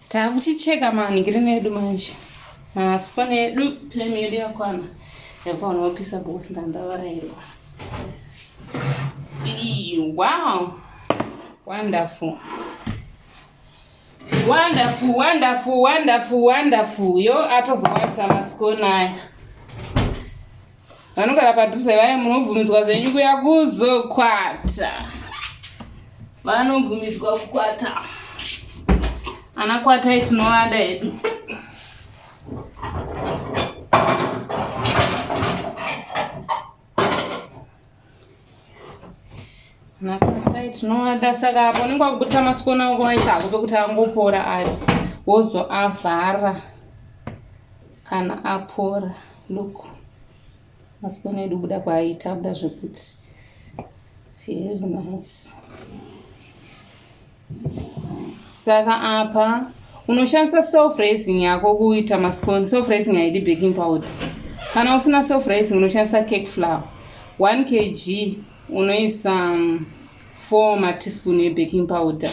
takuchicheka manhigirini edu manje maspon edu time yedu yakwana yakaona wapisa bos ndandavarairwa wow wonderful wonderful wonderful wonderful wonderful yo atozokwanisa maskoni aya vanogara padhuze vaye munobvumidzwa zvenyu kuya kuzokwata vanobvumidzwa kukwata ana kwatai tinovada hedu Nakasai tinovada saka apo unenge wakubudisa masikona ako aisa ako pekuti angopora ari wozoavhara kana apora look masikona edu kubuda kwaaita abuda zvekuti very nice saka apa unoshandisa self raising yako kuita mascone self raising haidi baking powder kana usina self raising unoshandisa cake flower 1 kg unoisa 4 um, mateaspoon yebaking powder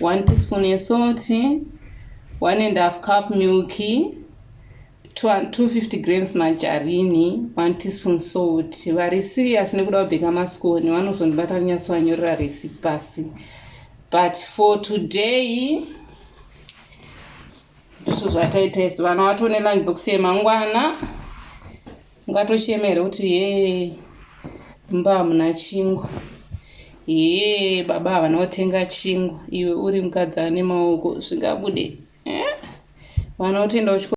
1 teaspoon yesalt 1 and half cup milky 250 grams majarini 1 teaspoon salt vari serious nekuda kubheka maskoni vanozondibata vanonyatsowanyorera resi pasi but for today ndizvo zvataita izvo vana vatone lunch box yemangwana ungatochemere kuti ye mumba hamuna chingwa ye baba havana kutenga chingwa iwe uri mukadzi ane maoko zvingabude eh? vana utoenda kuchikoro